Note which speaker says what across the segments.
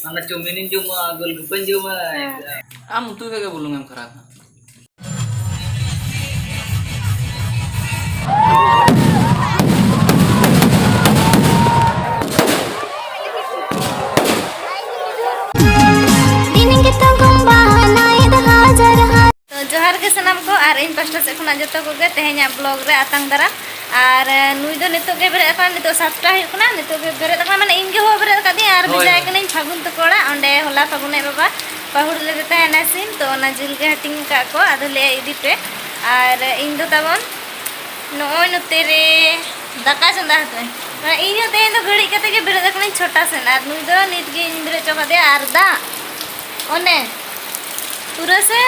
Speaker 1: ᱢᱟᱱᱮ ᱪᱚᱢᱤᱱᱤᱧ ᱡᱚᱢᱟ ᱜᱳᱞ ᱜᱩᱯᱟᱹᱧ ᱡᱚᱢᱟ ᱟᱢ ᱩᱛᱩ ᱨᱮᱜᱮ ᱵᱩᱞᱩᱝ ᱮᱢ ᱠᱷᱟᱨᱟᱯᱟ
Speaker 2: ᱛᱚ ᱡᱚᱦᱟᱨ ᱜᱮ ᱥᱟᱱᱟᱢ ᱠᱚ ᱟᱨ ᱤᱧ ᱯᱟᱥᱴᱟ ᱥᱮᱫ ᱠᱷᱚᱱᱟᱜ ᱡᱚᱛᱚ ᱠᱚᱜᱮ ᱛᱮᱦᱮᱧᱟᱜ ᱵᱞᱚᱜ ᱨᱮ ᱟᱛᱟᱝ ᱫᱟᱨᱟᱢ ᱟᱨ ᱱᱩᱭ ᱫᱚ ᱱᱤᱛᱚᱜ ᱜᱮ ᱵᱮᱨᱮᱫ ᱟᱠᱟᱱᱟ ᱱᱤᱛᱚᱜ ᱥᱟᱛᱴᱟ ᱦᱩᱭᱩᱜ ᱠᱟᱱᱟ ᱱᱤᱛᱚᱜ ᱜᱮ ᱵᱮᱨᱮᱫ ᱟᱠᱟᱱᱟ ᱢᱟᱱᱮ ᱤᱧ ᱜᱮ ᱦᱚᱦᱚ ᱵᱮᱨᱮᱫ ᱟᱠᱟᱫᱤᱧ ᱟᱨ ᱵᱷᱮᱡᱟᱭ ᱠᱟᱹᱱᱟᱹᱧ ᱯᱷᱟᱹᱜᱩᱱ ᱛᱟᱠᱚ ᱚᱲᱟᱜ ᱚᱸᱰᱮ ᱦᱚᱞᱟ ᱯᱷᱟᱹᱜᱩᱱ ᱟᱡ ᱵᱟᱵᱟ ᱯᱟᱹᱦᱩᱲ ᱞᱮᱫᱮ ᱛᱟᱦᱮᱱᱟ ᱥᱤᱢ ᱛᱚ ᱚᱱᱟ ᱡᱤᱞ ᱜᱮ ᱦᱟᱹᱴᱤᱧ ᱟᱠᱟᱫ ᱠᱚ ᱟᱫᱚ ᱞᱟᱹᱭᱟ ᱤᱫᱤ ᱯᱮ ᱟᱨ ᱤᱧ ᱫᱚ ᱛᱟᱵᱚᱱ ᱱᱚᱜᱼᱚᱭ ᱱᱚᱛᱮ ᱨᱮ ᱫᱟᱠᱟ ᱪᱚᱸᱫᱟ ᱟᱠᱟᱫᱟᱹᱧ ᱢᱟᱱᱮ ᱤᱧ ᱦᱚᱸ ᱛᱮᱦᱮᱧ ᱫᱚ ᱜᱷᱟᱹᱲᱤᱡ ᱠᱟᱛᱮ ᱜᱮ ᱵᱮᱨᱮᱫ ᱟᱠᱟᱱᱟᱹᱧ ᱪᱷᱚᱴᱟ ᱥᱮᱱ ᱟᱨ ᱱᱩᱭ ᱫᱚ ᱱᱤᱛ ᱜᱮ ᱤᱧ ᱵᱮᱨᱮᱫ ᱦᱚᱪᱚ ᱠᱟᱫᱮᱭᱟ ᱟᱨ ᱫᱟᱜ ᱚᱱᱮ ᱯᱩᱨᱟᱹ ᱥᱮ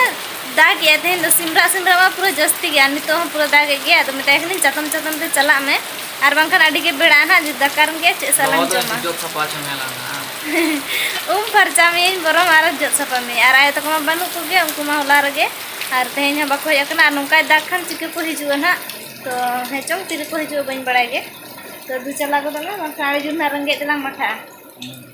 Speaker 2: ᱫᱟᱜ ᱮᱫ ᱛᱮᱦᱮᱧ ᱫᱚ ᱥᱤᱢᱨᱟ ᱥᱤᱢᱨᱟ ᱢᱟ ᱯᱩᱨᱟᱹ ᱡᱟᱹᱥᱛᱤ ᱜᱮ ᱟᱨ ᱱᱤᱛᱚᱜ ᱦᱚᱸ ᱯᱩᱨᱟᱹ ᱫᱟᱜ ᱮᱫ ᱜᱮᱭᱟ ᱟᱫᱚ ᱢᱮᱛᱟᱭ ᱠᱟᱹᱱᱟᱹᱧ ᱪᱟᱛᱚᱢ ᱪᱟᱛᱚᱢ ᱛᱮ ᱪᱟᱞᱟᱜ ᱢᱮ ᱟᱨ ᱵᱟᱝᱠᱷᱟᱱ ᱟᱹᱰᱤ ᱜᱮ ᱵᱮᱲᱟ ᱱᱟᱜ ᱡᱩᱫᱤ ᱫᱟᱠᱟ ᱨᱮᱢ ᱜᱮᱭᱟ ᱪᱮᱫ ᱥᱟᱞᱟᱜ ᱮᱢ ᱡᱚᱢᱟ ᱡᱚᱜ ᱥᱟᱯᱷᱟ ᱦᱚᱪᱚ ᱢᱮ ᱞᱟᱝ ᱩᱢ ᱯᱷᱟᱨᱪᱟ ᱢᱮᱭᱟᱹᱧ ᱵᱚᱨᱚᱝ ᱟᱨ ᱡᱚᱜ ᱥᱟᱯᱷᱟ ᱢᱮᱭᱟᱹᱧ ᱟᱨ ᱟᱭᱳ ᱛᱟᱠᱚ ᱢᱟ ᱵᱟᱹᱱᱩᱜ ᱠᱚᱜᱮ ᱩᱱᱠᱩ ᱢᱟ ᱦᱚᱞᱟ ᱨᱮᱜᱮ ᱟᱨ ᱛᱮᱦᱮᱧ ᱦᱚᱸ ᱵᱟᱠᱚ ᱦᱮᱡ ᱟᱠᱟᱱᱟ ᱟᱨ ᱱᱚᱝᱠᱟᱭ ᱫᱟᱜ ᱠᱷᱟᱱ ᱪᱤᱠᱟᱹ ᱠᱚ ᱦᱤᱡᱩᱜᱼᱟ ᱱᱟᱜ ᱛᱚ ᱦᱮᱸ ᱪᱚᱝ ᱛᱤᱨᱮᱠᱚ ᱦᱤᱡᱩᱜᱼᱟ ᱵᱟᱹᱧ ᱵᱟᱲᱟᱭ ᱜᱮ ᱛᱚ ᱫᱩ ᱪᱟᱞᱟᱣ ᱜᱚᱫᱚᱜ ᱢᱮ ᱵᱟᱝᱠᱷᱟᱱ ᱟᱹᱰᱤ ᱡᱳᱨ ᱱᱟᱜ ᱨᱮᱸᱜᱮᱡ ᱛᱮᱞᱟᱝ ᱢᱟᱴᱷᱟᱜᱼᱟ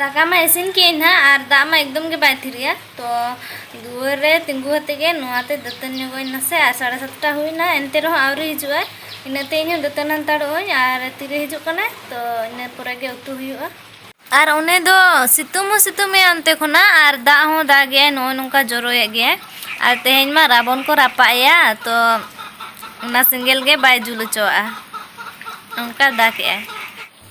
Speaker 2: ᱫᱟᱠᱟ ᱢᱟ ᱤᱥᱤᱱ ᱠᱮᱫ ᱟᱹᱧ ᱱᱟᱦᱟᱜ ᱟᱨ ᱫᱟᱜ ᱢᱟ ᱮᱠᱫᱚᱢ ᱜᱮ ᱵᱟᱭ ᱛᱷᱤᱨᱮᱜᱼᱟ ᱛᱚ ᱫᱩᱣᱟᱹᱨ ᱨᱮ ᱛᱤᱸᱜᱩ ᱠᱟᱛᱮ ᱜᱮ ᱱᱚᱣᱟᱛᱮ ᱫᱟᱹᱛᱟᱹᱱ ᱧᱚᱜᱚᱜ ᱟᱹᱧ ᱱᱟᱥᱮ ᱟᱨ ᱥᱟᱲᱮ ᱥᱟᱛᱴᱟ ᱦᱩᱭᱱᱟ ᱮᱱᱛᱮ ᱨᱮᱦᱚᱸ ᱟᱹᱣᱨᱤ ᱦᱤᱡᱩᱜᱼᱟ ᱤᱱᱟᱹᱛᱮ ᱤᱧ ᱦᱚᱸ ᱫᱟᱹᱛᱟᱹᱱ ᱦᱟᱱᱛᱟᱲᱚᱜ ᱟᱹᱧ ᱟᱨ ᱛᱤᱨᱮ ᱦᱤᱡᱩᱜ ᱠᱟᱱᱟᱭ ᱛᱚ ᱤᱱᱟᱹ ᱯᱚᱨᱮ ᱜᱮ ᱩᱛᱩ ᱦᱩᱭᱩᱜᱼᱟ ᱟᱨ ᱚᱱᱮ ᱫᱚ ᱥᱤᱛᱩᱝ ᱦᱚᱸ ᱥᱤᱛᱩᱝ ᱮᱭᱟ ᱚᱱᱛᱮ ᱠᱷᱚᱱᱟᱜ ᱟᱨ ᱫᱟᱜ ᱦᱚᱸ ᱫᱟᱜ ᱮᱭᱟᱭ ᱱᱚᱜᱼᱚᱭ ᱱᱚᱝᱠᱟ ᱡᱚᱨᱚᱭᱮᱫ ᱜᱮᱭᱟᱭ ᱟᱨ ᱛᱮᱦᱮᱧ ᱢᱟ ᱨᱟᱵᱚᱱ ᱠᱚ ᱨᱟᱯᱟᱜ ᱮᱭᱟ ᱛᱚ ᱚᱱᱟ ᱥᱮᱸᱜᱮᱞ ᱜᱮ ᱵᱟᱭ ᱡᱩᱞ ᱦᱚᱪᱚᱣᱟᱜᱼᱟ ᱚᱱᱠᱟ ᱫᱟᱜ ᱮᱜᱼᱟᱭ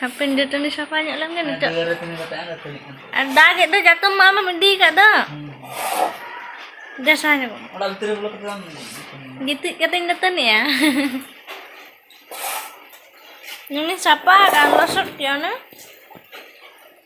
Speaker 2: ᱦᱟᱯᱮᱱ ᱫᱟᱹᱛᱟᱹᱱᱤ ᱥᱟᱯᱷᱟ ᱧᱚᱜ ᱞᱮᱱ ᱜᱮ ᱱᱤᱛᱚᱜ ᱟᱨ ᱫᱟᱜ ᱮᱫ ᱫᱚ ᱡᱟᱛᱚᱢ ᱢᱟ ᱟᱢᱮᱢ ᱤᱫᱤ ᱟᱠᱟᱫ ᱫᱚ ᱫᱮᱥᱟ ᱧᱚᱜ ᱚᱲᱟᱜ ᱵᱷᱤᱛᱨᱤ ᱨᱮ ᱵᱚᱞᱚ ᱠᱟᱛᱮ ᱵᱟᱢ ᱜᱤᱛᱤᱡ ᱠᱟᱛᱮᱧ ᱫᱟᱹᱛᱟᱹᱱᱤᱜᱼᱟ ᱱᱩᱱᱤ ᱥᱟᱯᱟ ᱟᱠᱟᱱ ᱞᱚᱥᱚᱫ ᱠᱮᱜᱼᱟ ᱚᱱᱟ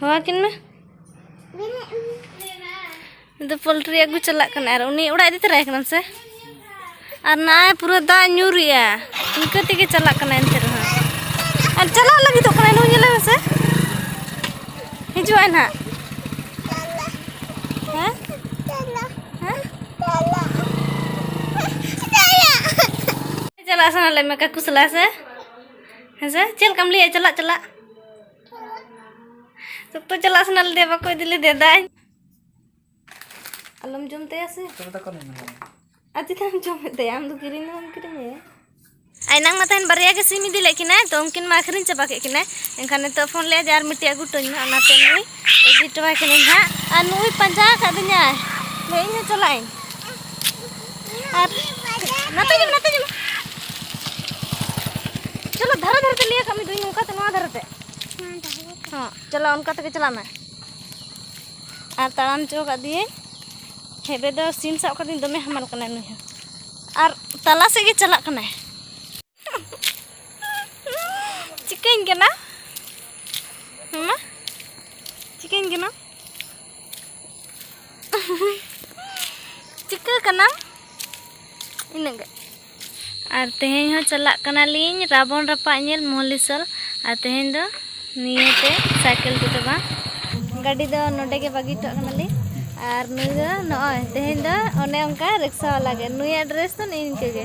Speaker 2: ᱦᱚᱦᱚᱣᱟᱠᱤᱱ ᱢᱮ ᱫᱚ ᱯᱳᱞᱴᱨᱤ ᱟᱹᱜᱩ ᱪᱟᱞᱟᱜ ᱠᱟᱱᱟ ᱟᱨ ᱩᱱᱤ ᱚᱲᱟᱜ ᱤᱫᱤ ᱛᱚᱨᱟᱭ ᱠᱟᱱᱟᱢ ᱥᱮ ᱟᱨ ᱱᱟᱭ ᱯᱩᱨᱟᱹ ᱫᱟᱜ ᱧᱩᱨᱮᱜᱼᱟ ᱤᱱᱠᱟᱹ ᱛᱮᱜᱮ ᱪᱟᱞᱟᱜ ᱠᱟᱱᱟ ᱮᱱᱛᱮ ᱨᱮᱦᱚᱸ ᱟᱨ ᱪᱟᱞᱟᱜ ᱞᱟᱹᱜᱤᱫᱚᱜ ᱠᱟᱱᱟ ᱱᱩᱭ ᱧᱮᱞᱮ ᱢᱮᱥᱮ ᱦᱤᱡᱩᱜᱼᱟᱭ ᱱᱟᱦᱟᱜ ᱦᱮᱸ ᱪᱟᱞᱟᱜ ᱥᱟᱱᱟ ᱞᱮᱫ ᱢᱮ ᱠᱟᱠᱩ ᱥᱟᱞᱟᱜ ᱥᱮ ᱦᱮᱸᱥᱮ ᱪᱮᱫ ᱞᱮᱠᱟᱢ ᱞᱟᱹᱭᱟ ᱪᱟᱞᱟᱜ ᱪᱟᱞᱟᱜ ᱥᱚᱠᱛᱚ ᱪᱟᱞᱟᱜ ᱥᱟᱱᱟ ᱞᱮᱫᱮ ᱵᱟᱠᱚ ᱤᱫᱤ ᱞᱮᱫᱮ ᱫᱟᱹᱧ ᱟᱞᱚᱢ ᱡᱚᱢ ᱛᱟᱭᱟ ᱥᱮ ᱟᱨ
Speaker 1: ᱪᱮᱫᱟᱢ
Speaker 2: ᱡᱚᱢᱮᱫ ᱛᱟᱭᱟ ᱟᱢ ᱫᱚ ᱠᱤᱨᱤᱧ ᱫᱚ ᱵᱟᱢ ᱠᱤᱨᱤᱧᱟᱭᱟ ᱟᱨ ᱮᱱᱟᱝ ᱢᱟ ᱛᱟᱦᱮᱱ ᱵᱟᱨᱭᱟ ᱜᱮ ᱥᱤᱢ ᱤᱫᱤ ᱞᱮᱫ ᱠᱤᱱᱟᱭ ᱛᱚ ᱩᱱᱠᱤᱱ ᱢᱟ ᱟᱹᱠᱷᱨᱤᱧ ᱪᱟᱵᱟ ᱠᱮᱫ ᱠᱤᱱᱟᱭ ᱮᱱᱠᱷᱟᱱ ᱱᱤᱛᱚᱜ ᱯᱷᱳᱱ ᱞᱮᱫᱼᱟ ᱡᱮ ᱟᱨ ᱢᱤᱫᱴᱤᱡ ᱟᱹᱜᱩ ᱦᱚᱴᱚᱣᱟᱹᱧ ᱢᱮ ᱚᱱᱟᱛᱮ ᱱᱩᱭ ᱤᱫᱤ ᱴᱚᱣᱟᱭ ᱠᱟᱹᱱᱟᱹᱧ ᱦᱟᱸᱜ ᱟᱨ ᱱᱩᱭ ᱯᱟᱸᱡᱟ ᱟᱠᱟᱫ ᱫᱤᱧᱟ ᱞᱟᱹᱭ ᱤᱧ ᱦᱚᱸ ᱪᱟᱞᱟᱜ ᱟᱹᱧ ᱟᱨ ᱱᱟᱛᱮ ᱧᱮᱞ ᱱᱟᱛᱮ ᱧᱮᱞ ᱪᱚᱞᱚ ᱫᱷᱟᱨᱮ ᱫᱷᱟᱨᱮ ᱛᱮ ᱞᱟᱹᱭ ᱟᱠᱟᱫ ᱢᱮ ᱫᱩᱧ ᱱᱚᱝᱠᱟ ᱛᱮ ᱱᱚᱣᱟ ᱫᱷᱟᱨᱮ ᱛᱮ ᱦᱚᱸ ᱪᱚᱞᱚ ᱚᱱᱠᱟ ᱛᱮᱜᱮ ᱪᱟᱞᱟᱜ ᱢᱮ ᱟᱨ ᱛᱟᱲᱟᱢ ᱦᱚᱪᱚ ᱟᱠᱟᱫ ᱫᱤᱭᱟᱹᱧ ᱦᱮᱵᱮ ᱫᱚ ᱥᱤᱢ ᱥᱟᱵ ᱠᱟᱹᱫᱤᱧ ᱫᱚᱢᱮ ᱦᱟᱢᱟᱞ ᱠᱟᱱᱟᱭ ᱱᱩᱭ ᱦᱚᱸ ᱟᱨ ᱛᱟᱞᱟ ᱥᱮᱫ ᱜᱮ ᱪᱟᱞᱟᱜ ᱠᱟᱱᱟᱭ ᱪᱤᱠᱟᱹᱧ ᱠᱟᱱᱟ ᱢᱟᱢᱟ ᱪᱤᱠᱟᱹᱧ ᱠᱟᱱᱟ ᱪᱤᱠᱟᱹ ᱠᱟᱱᱟ ᱤᱱᱟᱹᱜ ᱜᱮ ᱟᱨ ᱛᱮᱦᱮᱧ ᱦᱚᱸ ᱪᱟᱞᱟᱜ ᱠᱟᱱᱟᱞᱤᱧ ᱨᱟᱵᱚᱱ ᱨᱟᱯᱟᱜ ᱧᱮᱞ ᱢᱚᱦᱞᱤᱥᱚᱞ ᱟᱨ ᱛᱮᱦᱮᱧ ᱫᱚ ᱱᱤᱭᱟᱹᱛᱮ ᱥᱟᱭᱠᱮᱞ ᱛᱮᱫᱚ ᱵᱟᱝ ᱜᱟᱹᱰᱤ ᱫᱚ ᱱᱚᱰᱮ ᱜᱮ ᱵᱟᱹᱜᱤ ᱦᱚᱴᱚ ᱠᱟᱱᱟᱞᱤᱧ ᱟᱨ ᱱᱩᱭ ᱫᱚ ᱱᱚᱜᱼᱚᱭ ᱛᱮᱦᱮᱧ ᱫᱚ ᱚᱱᱮ ᱚᱱᱠᱟ ᱨᱤᱠᱥᱟ ᱵᱟᱞᱟ ᱜᱮ ᱱᱩᱭᱟᱜ ᱰᱨᱮᱥ ᱫᱚ ᱱᱤᱝᱠᱟᱹ ᱜᱮ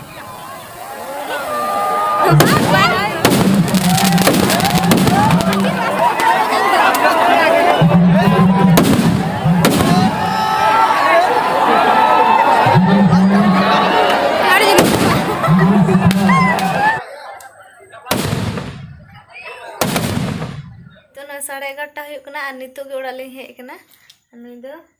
Speaker 2: ᱥᱟᱲᱮ ᱮᱜᱟᱨᱚᱴᱟ ᱦᱩᱭᱩᱜ ᱠᱟᱱᱟ ᱟᱨ ᱱᱤᱛᱚᱜ ᱜᱮ ᱚᱲᱟᱜ ᱞᱤᱧ ᱦᱮᱡ ᱟᱠᱟᱱᱟ ᱱᱩᱭ ᱫᱚ